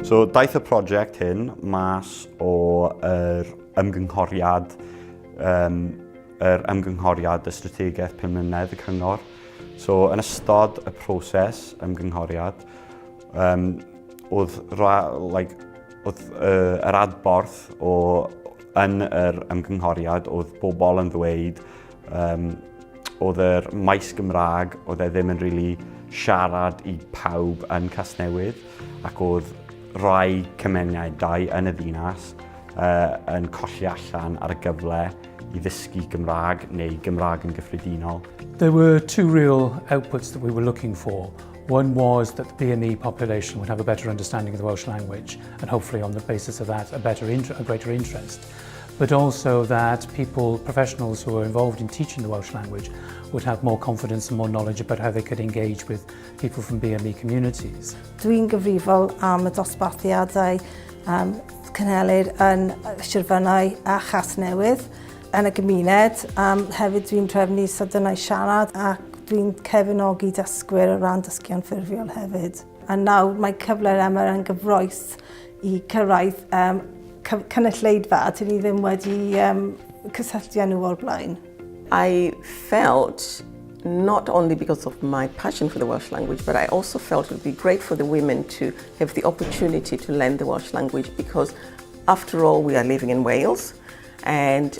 So, daeth y prosiect hyn mas o'r er ymgynghoriad, um, er ymgynghoriad y strategaeth pum mlynedd y cyngor. So, yn ystod y proses ymgynghoriad, um, oedd, ra, like, oedd uh, yr adborth o, yn yr ymgynghoriad oedd bobl yn ddweud Um, oedd yr maes Gymraeg, oedd e ddim yn rili really siarad i pawb yn Casnewydd ac oedd rhai cymunedau yn y ddinas uh, yn colli allan ar y gyfle i ddysgu Gymraeg neu Gymraeg yn gyffredinol. There were two real outputs that we were looking for. One was that the BME population would have a better understanding of the Welsh language and hopefully on the basis of that a better a greater interest. but also that people, professionals who are involved in teaching the Welsh language would have more confidence and more knowledge about how they could engage with people from BME communities. Dwi'n gyfrifol am y dosbarthiadau um, cynhelir yn Sirfynau a Chas Newydd yn y gymuned. Um, hefyd dwi'n trefnu sydynau siarad ac dwi'n cefnogi dysgwyr o ran dysgu'n ffurfiol hefyd. A nawr mae cyfle'r Emyr yn gyffroes i cyrraedd um, cynulleidfa a dyn ni ddim wedi um, cysylltu â nhw o'r blaen. I felt not only because of my passion for the Welsh language, but I also felt it would be great for the women to have the opportunity to learn the Welsh language because, after all, we are living in Wales and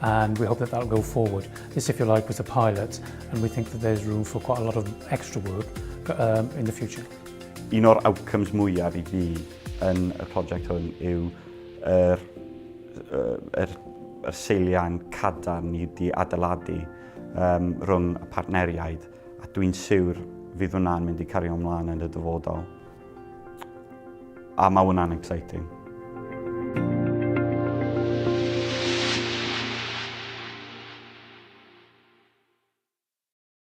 and we hope that that'll go forward. This, if you like, was a pilot, and we think that there's room for quite a lot of extra work um, in the future. Un o'r outcomes mwyaf i fi yn y prosiect hwn yw yr, er, er, er seiliau'n cadarn ni wedi adeiladu um, rhwng y partneriaid, a dwi'n siwr fydd hwnna'n mynd i cario ymlaen yn y dyfodol. A mae hwnna'n exciting.